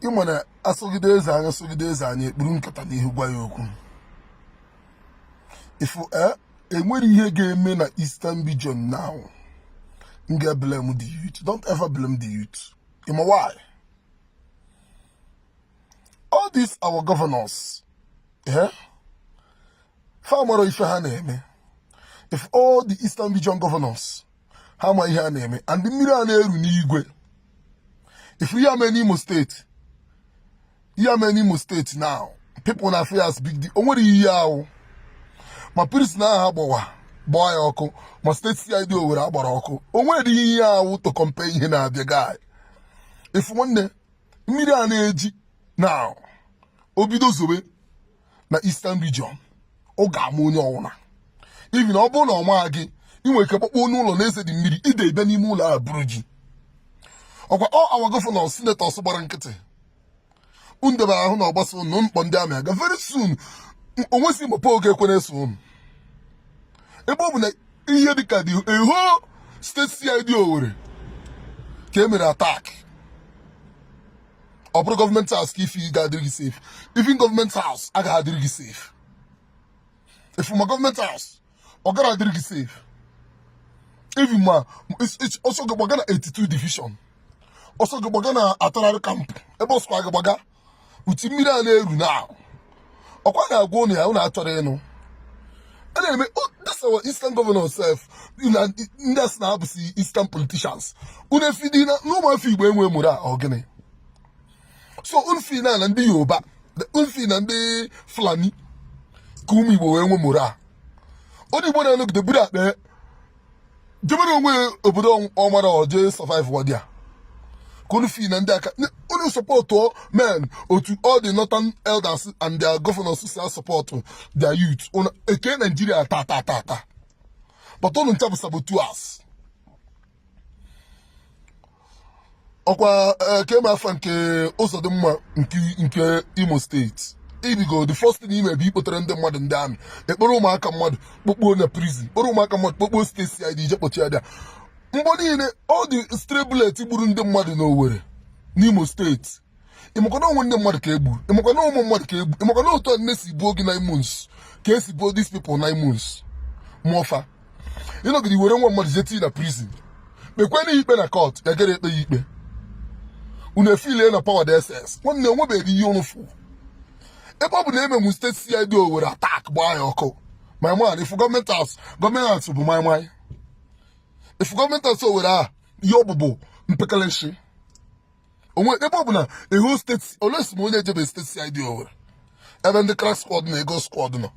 ịma na asọgide eze anya sọgide eze anya ekpuru nkata n'ihu gwa ya okwu if eh, enwere ihe ga-eme na Eastern Region now m ga-eblame the youth don't ever blame the youth ịma why all these our governors if ha mara ife ha na-eme if all the eastern region governors ha ma ihe a na-eme and mmiri a na-eru n'igwe ife a mee n'imo steeti ihe mee n'imo steeti now people na-afụ as big deal o nwere ihe ọ wụ ma prison a ha gbawa gbaa ya ọkụ ma steeti CID Owerri a gbara ọkụ o nwere ihe ọ wụ to compare ihe na-abịa guy if nwanne mmiri a na-eji now o bido zobe na Eastern Region ọ ga-ama onye ọwụna even ọ bụrụ na ọ maa gị ị nwere ike kpọkpọ n'ụlọ na-eze dị mmiri ide ebe n'ime ụlọ a buru gị ọkwa all our governors senators gbara nkịtị ndebara ahụ na ọ gbasa ụnụ mkpọ ndị army aga very soon o nwezi mgbe oge ekwe na-eso ụnụ ebe ọ bụ na ihe dịka the whole steeti CID Owerri ka e mere attack ọ bụrụ government house ka ị feel ga-adịrị gị safe even government house agaghị adịrị gị safe ị fụ ma government house ọ gara adịrị gị safe even ma ọsọ gị gbaga na 82 division ọsọ gị gbaga na artillery camp ebe ọsọ gị gbaga ụdị mmiri a na-eru now ọkwa na-agwa ụnụ ya ụnụ achọrọ ịnụ a na-eme that's our eastern governor sef ndị sị na ha bụsi eastern politicians unu efeel dị na ụmụafọ igbo enwe morale ọ gịnị so unu feel na ndị yoruba unu feel na ndị fulani ka ụmụ igbo wee nwe morale onye igbo na-anọgide buru akpa jebere onwe obodo ọ mara ọ je survive wadi a ka unu feel na ndị a ka unu support men otu all the northern elders and their governors si asupport their youth unu eke naijiria ta ta ta ta but unu ncha bụ saboteurs ọkwa eh, kee ma afa nke Uzodimma nke imo steeti ị bịago the first thing i me bụ ịkpọtara ndị mmadụ ndị army ekporo ụmụaka mmadụ kpokpuo na prison kporo ụmụaka mmadụ kpokpuo steeti CID je kpọchie ha there mgbọ niile all the stray bullets gburu ndị mmadụ n'Owerri n'Imo steeti ịmakwa na onwe ndị mmadụ ka e gburu ịmakwa na ụmụ mmadụ ka e gburu ịmakwa na otu nne si buo gị nine months ka esi buo these people nine months mụọ fa ịnọgide were nwa mmadụ jeti na prison kpekwe na ikpe na court ya gara ekpe ya ikpe unu efilie na power DSS nwanne onwebeghị ihe unu fụ ebe ọ bụ na emenwu state CID Owerri attack gbaa ya ọkụ my man ị fụ government house government house bụ moi moi ị fụ government house Owerri a ihe ọ bụ bụ mpekele nshi onwe ebe ọ bụ na a whole state unless ma onye ejebe state CID Owerri ebe ndị crack squad na eagle squad nọ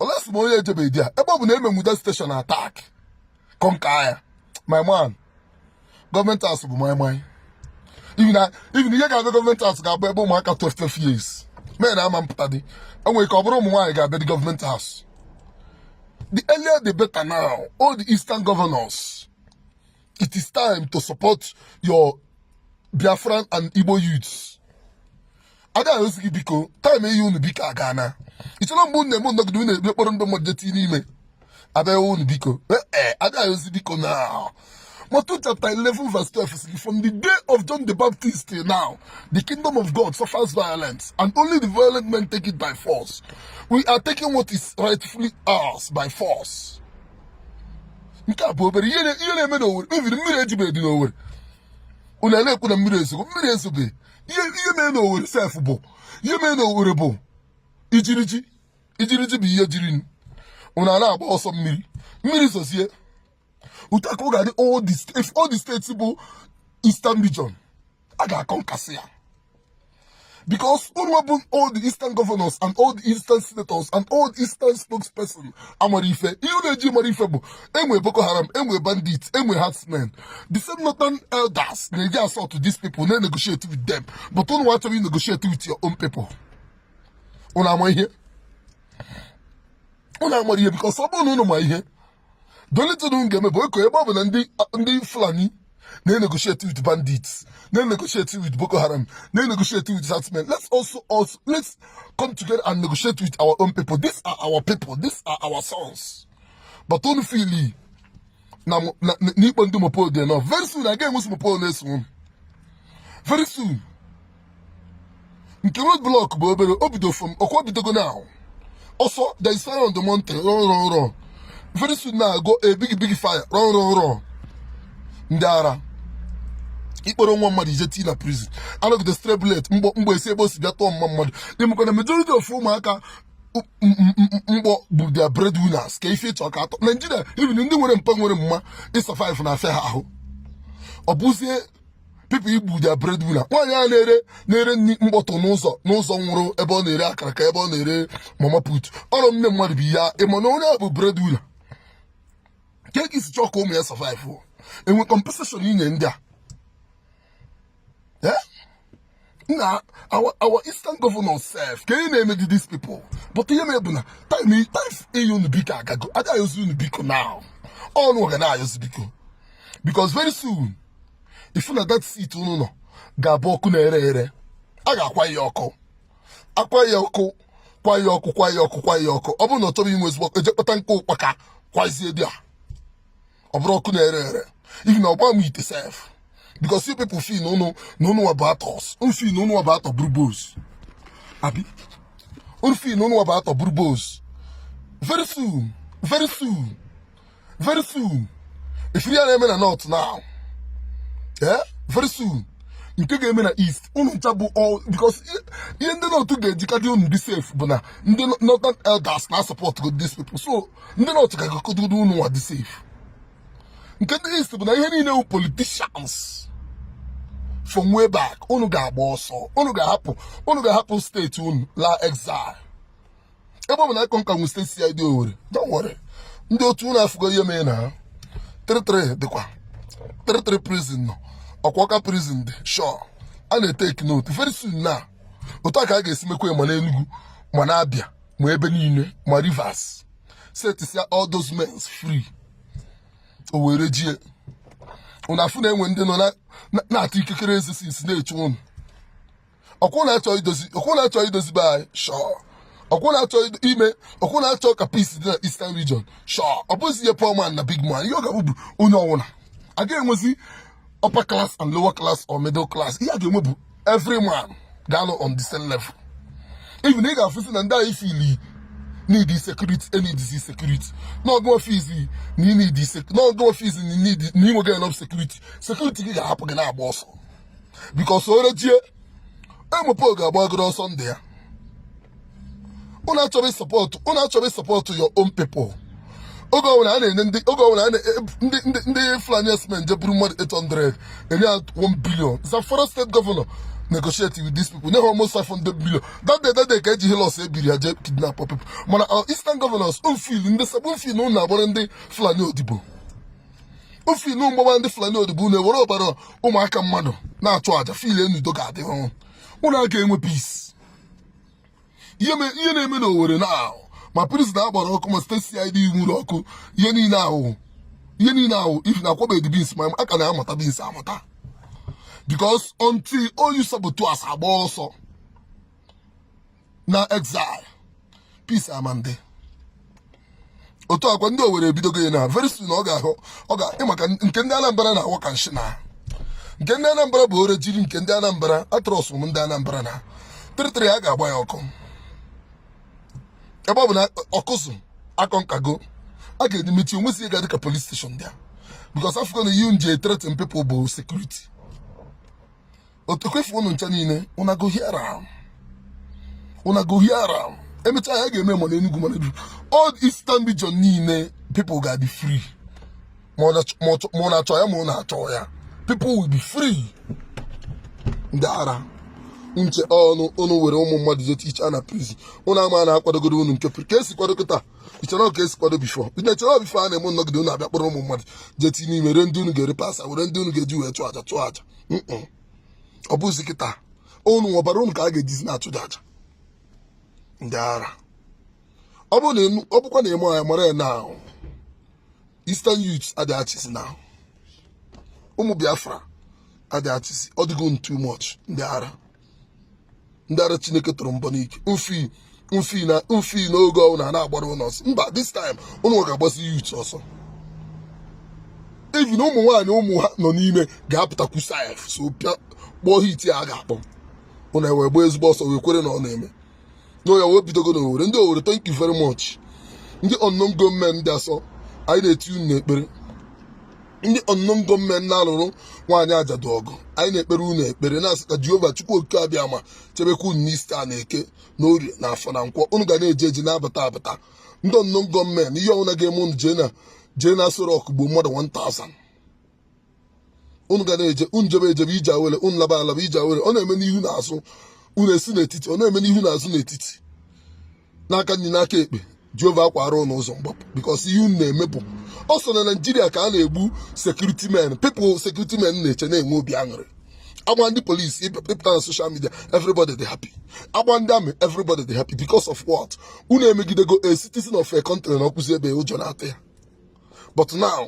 unless ma onye ejebe there ebe ọ bụ na emenwu that station attack conquer ya my man government house bụ moi moi even ihe ga-abịa government house ga-abụ ebe ụmụaka 12 years men ama mpụta dị enwere ike ọ bụrụ ụmụ nwaanyị ga-abịa dị government house the earlier the better now all the eastern governors it is time to support your Biafran and Igbo youths ada ayọzi gị biko time eyi unu biko agana ichere mgbe unu na-eme nnọgide unu ekpokọrọ ndị mmadụ jetinye n'ime abịaghị unu biko ee eh, eh, ada ayọzi biko now Matthew chapter 11, verse 12 says, From the day of John the Baptist till now, the kingdom of God suffers violence, and only the violent men take it by force. We are taking what is rightfully ours by force. nke a bụ obere ihe na-eme n'Owerri even mmiri ejibe dị n'Owerri unu na-ekwu na mmiri ezogo mmiri ezobe ihe mee n'Owerri sef bụ ihe mee n'Owerri bụ ijiriji ijiriji bụ ihe jiri unu a na-agba ọsọ mmiri mmiri zozie attack ga-adị all the states bụ Eastern Region a ga-aconquersị ya because unu bụ all the eastern governors and all the eastern senators and all the eastern spokesperson amara ife ihe unu eji mara ife bụ enwe boko haram enwe bandits enwe herdsmen the same northern elders na-eji assault to these people na-negotiate with them but unu achọghị negotiate with your own people unu ama ihe unu amara ihe because ọ bụrụ na unu ma ihe the only thing unu ga-eme bụ okay ebe ọ bụ na ndị fulani na-enegotiate with bandits na-enegotiate with boko haram na-enegotiate with herdsmen let's also also let's come together and negotiate with our own people these are our people these are our sons but unu feel na n'ikpe ndị mopol dị nọ very soon agaghị enwezi mopol na-eso very soon nke road block bụ obere o bido from ọkwa bidogo na ahụ ọsọ there is fire on the mountain run run run very soon na-agụ a big big fire run run run ndị ara ikpọrọ nwa mmadụ jetii na prison anọgide stray bullet mgbọ mgbọ esi ebe o si bịa tụọ nwa mmadụ ịmakwa na majority of ụmụaka mkpọ bụ their breadwinners ka ife ịchọ ka atọ Nigeria even ndị nwere mpa nwere mma ịsurvive na afịa ha ahụ ọ bụzie people igbu their breadwinner nwaanyị a na-ere nri mgbọ tụ n'ụzọ nwụrụ ebe ọ na-ere akara ka ebe ọ na-ere mama put ọ bụrụ nne mmadụ bụ ya ịma na onye a bụ breadwinner kee ka i si chọọ ka ụmụ ya survive enwe compensation inye ndị a na our eastern governors sef kee ihe unu na-emedi these people but ihe me bụ na time ịyọ unu biko agago ada ayọzi unu biko now unuwa ga na-ayọzi biko because very soon ị fụ na that seat unu nọ ga-abụ ọkụ na-ere ere a ga-akwa ya ọkụ akwa ya ọkụ kwa ya ọkụ kwa ya ọkụ kwa ya ọkụ ọ bụrụ na ọ chọrọ inwuzi ọkụ e je kpata nkụ ụkpaka kwaziedi ya ọ bụrụ ọkụ na-ere ere even ọgba m ite sef because you people feel na ụnụ wabụ atọs unu feel na ụnụ wabụ atọ bụrụ boss abi unu feel na ụnụ wabụ atọ bụrụ boss very soon very soon very soon ị fụrụ ihe na-eme na north now eh very soon nke ga-eme na east unu ncha bụ all because ihe ndị north ga-eji kadị unu dị safe bụ na ndị northern elders na-asupport these people so ndị north kagodu ụnụ nwa dị safe nke ndị east bụ na ihe niile bụ politicians from way back unu ga-agba ọsọ unu ga-ahapụ state unu laa exile ebe ọ bụ na ịkọ nka nwe State CID Owerri don't worry ndị otu unu afụgo ihe mee na 33 dịkwa 33 prison nọ ọkwa Ọka prison dị sure a na-etake note very soon na otu a ka a ga-esi mekwa ma n'Enugu ma n'Abịa ma ebe niile ma Rivers setisia all those men free o were jie unu afụ na e nwere ndị nọ na-ata ikikere eze since na-eche ụnụ ọkwa unu achọ idozi be anyị shọọ ọkwa unu achọ ka peace dị na eastern region shọọ ọ bụzi ihe poor man na big man ihe ọ ga-abụ bụ onye ọwụla a ga-enwezi upper class and lower class or middle class ihe a ga-enwe bụ every man ga-anọ on the same level even ị ga-afụsi na ndị anyị fili need security e needizi security n'oge ị feelizi na i needi n'oge ị feelizi na inweghị enough security security gị ga-ahapụ gị na-agba ọsọ because orejie emepe ọ ga-agbagodu ọsọ ndụ ya unu achọrọ ịsupport your own people oge ọbụla a na-enye ndị oge ọbụla ndị Fulani herdsmen je buru mmadụ 800 enye ya 1 billion Zamfara state governor negotiate with these people nye ha almost 500 million that day that day ka eji Hilux ebiri ya je kidnap people mana our uh, eastern governors unu feel ndị south unu feel na unu agbara ndị Fulani odibo unu feel na unu gbaba ndị Fulani odibo unu ewere ọbara ụmụaka mmadụ na-achụ aja feel na udo ga-adị ọrụ unu a ga-enwe peace ihe na-eme na Owerri na ahụ ma prison a gbara ọkụ ma state CID nwuru ọkụ ihe niile ahụ ihe niile ahụ if na akwọbeghị beans ma a ka na-amata beans amata because until all you saboteurs agba ọsọ na exile peace ama adị otu akwa ndị Owerri ebidogo ya na very soon ọ ga-ahụ ọ ga ịmaka nke ndị anambra na-awọ ka nshi na nke ndị anambra bụ ore jiri nke ndị anambra a trust m ndị anambra na 33 a ga-agba ya ọkụ ebe ọ bụ na Awkuzu akọ nkago a ga-emechi onwezi ya ga-adị ka police station there because afụgo na ihe unu eji threaten people bụ security otekwefu ụnụ ncha niile una go hear am una go hear am emecha ya ga-eme ma na Enugu ma na Enugu all Eastern region niile people ga be free ma ọ na-achọ ya ma ọ na-achọ ya people will be free ndị ara nche ọnụ ụnụ were ụmụ mmadụ jee tichie na prison ụnụ ama na akwadogoro ụnụ nke ka esi kwado kịta ichere ka esi kwado before ndị chere before a na-eme nnọgide ụnụ abịa kpọrọ ụmụ mmadụ jee tii n'ime ree ndị ụnụ ga-ere parts ha were ndị ụnụ ga-eji wee chụọ aja chụọ aja ọ bụzi kịta unu ọbara unu ka a ga-ejizi na-achụ aja ndị ara ọ bụkwa na ị maghị ya mara ya na Eastern youths adịghị achịzi na ụmụ Biafra adịghị achịzi ọ dịgo too much ndị ara ndị ara chineke tụrụ mbọ n'ike mfi mfi na mfi n'oge ọ bụ na a na-agbara unu ọsọ mba this time unu ga-agbasi youth ọsọ even ụmụ nwaanyị ụmụ ha nọ n'ime ga-apụtakwu sef so pịa kpọọ hit a ga-akpọ ụna wee gbaa ezigbo ọsọ wee kwere na ọ na-eme na ya wee bidogo na Owerri ndị Owerri thank you very much ndị unknown gunmen ndị asọ anyị na-eti unu n'ekpere ndị unknown gunmen na-alụrụ nwaanyị ajadu ọgụ anyị na-ekpere unu ekpere na-asị ka jehova chukwu okike abiama chebekwa unu n'Easter a na eke na orie na afọ na nkwọ unu ga na-eje eje na-abata abata ndị unknown gunmen ihe ọbụla ga-eme unu jee na jee na Aso Rock gbuo mmadụ 1000 unu ga na-eje unu jebe ejebe ije awere unu laba alaba ije awere ọ na-eme n'ihu na azụ unu esi n'etiti ọ na-eme n'ihu na azụ n'etiti n'aka nri n'aka ekpe jehova akwaara ụnụ ụzọ mgbapụ because ihe unu na-eme bụ ọ sọ na naijiria ka a na-egbu security men people security men na-eche na-enwe obi aṅụrị agbaa ndị police ị pụta na social media everybody dị happy agbaa ndị army everybody dị happy because of what unu emegidego a citizen of a country nọkwuzi ebe ụjọ na-atụ ya but now